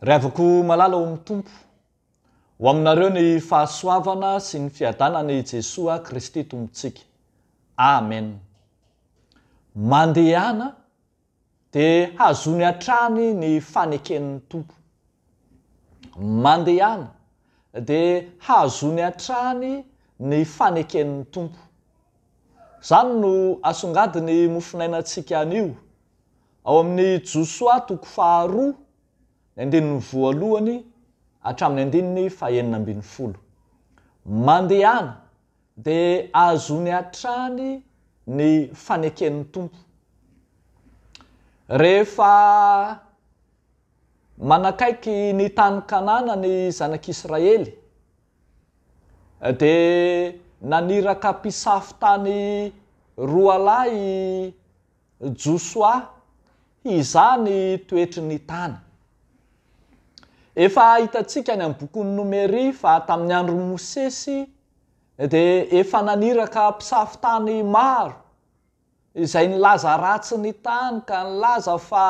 Revako malala ao amin'ny Tompo. Ho aminareo ny fahasoavana sy ny fiadanana i Jesoa Kristy Tompontsika. Amen. Mandehana Dia hazony hatrany ny faneken'ny Tompo. Mandehana, dia hazony hatrany ny faneken'ny Tompo. Izany no asongadin'ny mofonainantsika anio, ao amin'ny Josoa toko faharoa, ny andininy voalohany hatramin'ny andininy fahenina ambin'ny folo. Mandehana, Dia ahazoany hatrany ny faneken'ny Tompo. Rehefa manakaiky ny tany Kanana ny Zanak'Israely, dia naniraka mpisafo tany roalahy i. Josoa hizaha ny toetry ny tany. Efa hitantsika any amin'ny bokin'i Nomery fa tamin'ny andron'i Mosesy dia efa naniraka mpisafo tany maro izay nilaza ratsy ny tany ka nilaza fa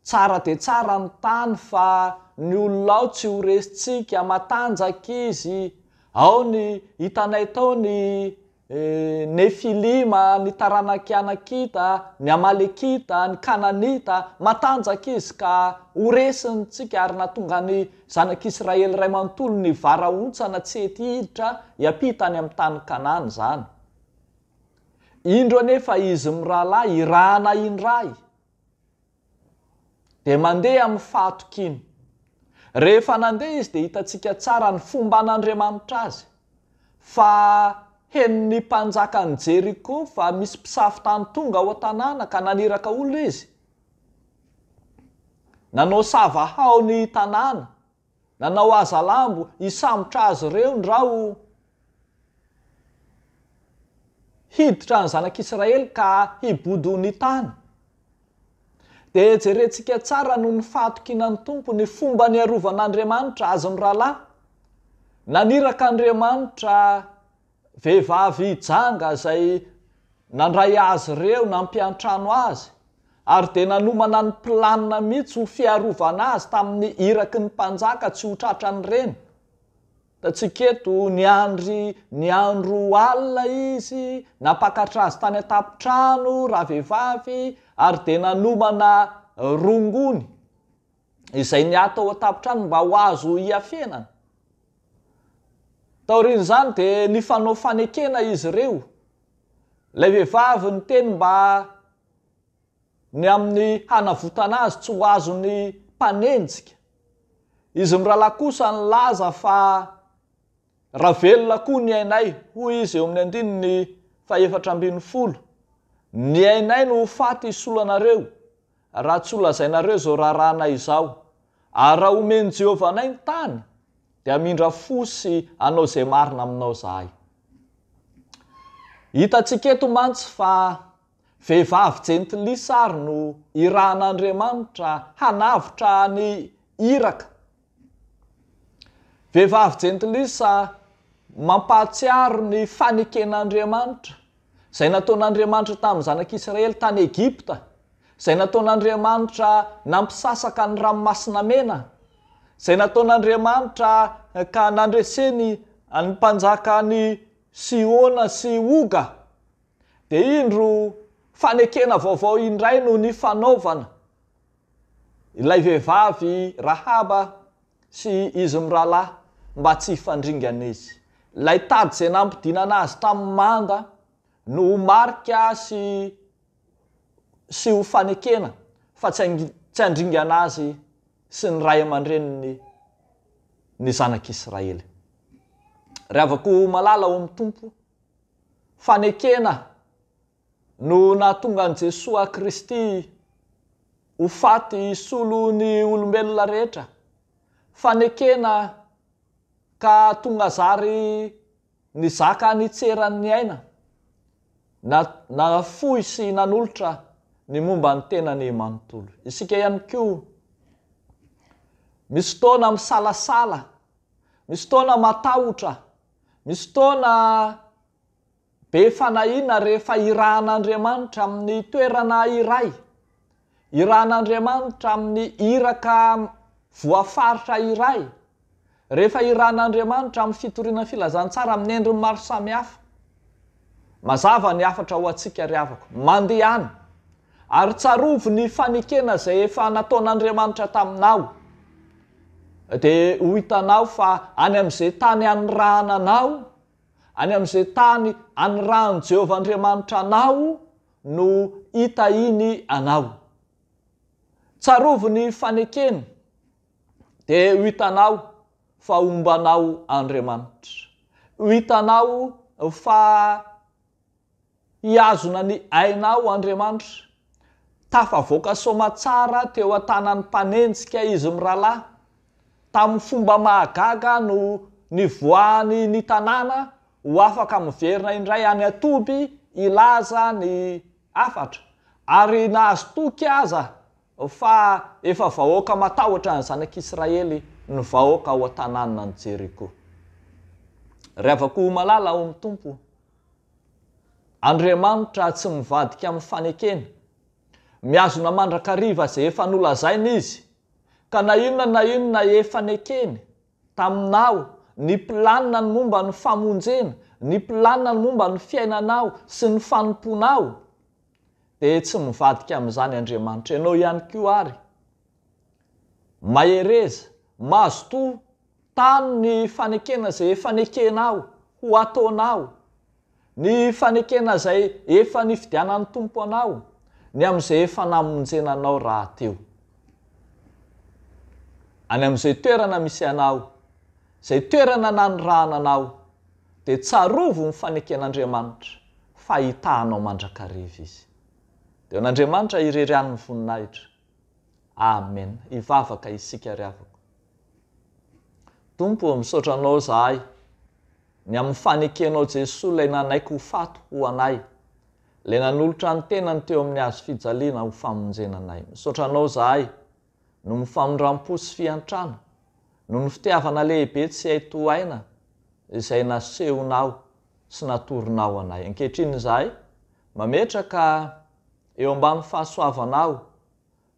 Tsara dia tsara ny tany fa ny olona ao tsy ho resintsika, matanjaka izy, ao ny, hitanay tao ny Nefilima, ny taranak'i Anakita, ny Amalekita, ny Kananita, matanjaka izy ka ho resintsika ary na tonga ny zanak'Israely iray manontolo nivarahontsana tsy hety hiditra hiampita any amin'ny tany Kanana izany. Indro anefa izy mirahalahy irahana indray. Dia mandeha amin'ny fahatokiana. Rehefa nandeha izy dia hitantsika tsara ny fomban'Andriamanitra azy, fa henon'ny mpanjakan'i Jeriko fa misy mpisafo-tany tonga ao an-tanàna ka naniraka olona izy. Nanao sava hao ny tanàna Nanao hazalambo hisambotra azy ireo ny ra o. Hiditra ny zanak'Israely ka hibodo ny tany. Dia jerentsika tsara noho ny fahatokinan'ny Tompo ny fomba niarovan'Andriamanitra azy mirahalahy. Naniraka Andriamanitra Vehivavy janga izay nandray azy ireo nampiantrano azy ary dia nanomana ny planina mihitsy ho fiarovana azy tamin'ny iraky ny mpanjaka tsy ho tratran'ireny. Hitantsika eto, niandry ny andro alina izy, nampakatra azy tany an-tampon-trano ravehivavy ary dia nanomana rongony. izay ny ahy tao an-tampon-trano mba ho azo hiafenana. Taorian'izany dia nifanao fanekena izy ireo. Ilay vehivavy niteny mba ny amin'ny hanavotana azy tsy ho azon'ny mpanenjika. Izy mirahalahy kosa nilaza fa Raha velona koa ny ainay, hoy izy eo amin'ny andininy fahefatra ambin'ny folo, ny ainay no ho faty hisolo anareo, raha tsy holazainareo izao raharahanay izao. Ary raha homen'i Jehovah anay ny tany, dia hamindra fo sy hanao izay marina aminao izahay. Hitantsika eto mantsy fa vehivavy jentilisa àry no irahan'Andriamanitra hanavotra an'i Iraka. Vehivavy jentilisa mampahatsiaro ny faneken'Andriamanitra, izay nataon'Andriamanitra tamin'ny zanak'Israely tany Egypta, izay nataon'Andriamanitra nampisasaka ny Ranomasina Mena, izay nataon'Andriamanitra ka nandreseny ny mpanjakan'i Sihona sy Oga. Dia indro fanekena vaovao indray no nifanaovana. ilay vehivavy Rahaba sy izy mirahalahy mba tsy hifandringana izy. Ilay tady izay nampidinana azy tamin'ny manda no ho marika sy sy ho fanekena fa tsy tsy handringana azy sy ny ray aman-dreniny ny zanak'Israely. Ry havako malala ao amin'ny Tompo, fanekena no nahatonga an'i Jesoa Kristy ho faty hisolo ny olombelona rehetra, fanekena ka tonga zary nizaka nitseran'ny aina, na nafoy sy nanolotra ny momba ny tenany manontolo. Isika ihany koa misy fotoana misalasala, misy fotoana matahotra, misy fotoana. Be fanahiana rehefa irahan'Andriamanitra amin'ny toerana iray, irahan'Andriamanitra amin'ny iraka voafaritra iray, rehefa irahan'Andriamanitra amin'ny fitoriana ny filazantsara amin'ny endriny maro samihafa. Mazava ny hafatra ho antsika ry havako. Mandehana, ary tsarovy ny fanekena izay efa nataon'Andriamanitra taminao, dia ho hitanao fa any amin'izay tany anirahananao, Any amin'izay tany anirahan'i Jehovah Andriamanitra anao no hitahiany anao. Tsarovy ny fanekeny, dia ho hitanao fa homba anao Andriamanitra. Ho hitanao fa Hihazona ny ainao Andriamanitra. Tafavoaka soamatsara teo an-tanan'ny mpanenjika izy mirahalahy. Tamin'ny fomba mahagaga no nivoahany ny tanàna ho afaka miverina indray any an-toby hilaza ny hafatra, ary nahazo toky aza fa efa vahoaka matahotra ny zanak'Israely ny vahoaka ao an-tanànan'i Jeriko. Ry havako malala ao amin'ny Tompo, Andriamanitra tsy mivadika amin'ny fanekena. Mihazona mandrakariva izay efa nolazainy Izy. Ka na inona na inona efa nekeny taminao, ny planiny momba ny famonjena, ny planiny momba ny fiainanao sy ny fanompoanao, dia tsy mivadika amin'izany Andriamanitra. Ianao ihany koa àry. Mahereza, mazotoa Tano ny fanekena izay efa nekenao ho ataonao, ny fanekena izay efa nifidianan'ny Tompo anao, ny amin'izay efa namonjena anao rahateo. Any amin'izay toerana misy anao, izay toerana nanirahana anao, dia tsarovy ny faneken'Andriamanitra fa hitahanao mandrakariva Izy. Dia eo an'Andriamanitra irery any ny voninahitra. Amen hivavaka isika ry havako. Tompo ô misaotra anao zahay ny amin'ny fanekenao Jesoa ilay nanaiky ho faty ho anay ilay nanolotra ny tenany teo amin'ny hazo fijaliana ho famonjena anay misaotra anao zahay noho ny famindram-po sy fiantrana noho ny fitiavana lehibe tsy hay tohaina izay nasehonao sy natoronao anay ankehitriny izahay mametraka Eo ambany fahasoavanao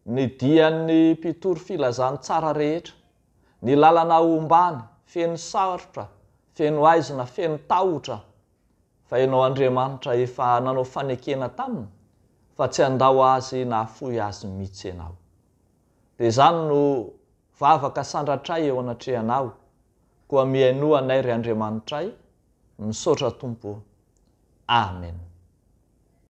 Ny dian'ny mpitory filazantsara rehetra Ny lalana ombàny, feno sarotra, feno haizina, feno tahotra Fa ianao Andriamanitra efa nanao fanekena taminy Fa tsy handao azy na hafoy azy mitsy ianao Dia izany no vavaka sandratray eo anatrehanao Koa mihainoa anay ry Andriamanitray Misaotra Tompo Amen.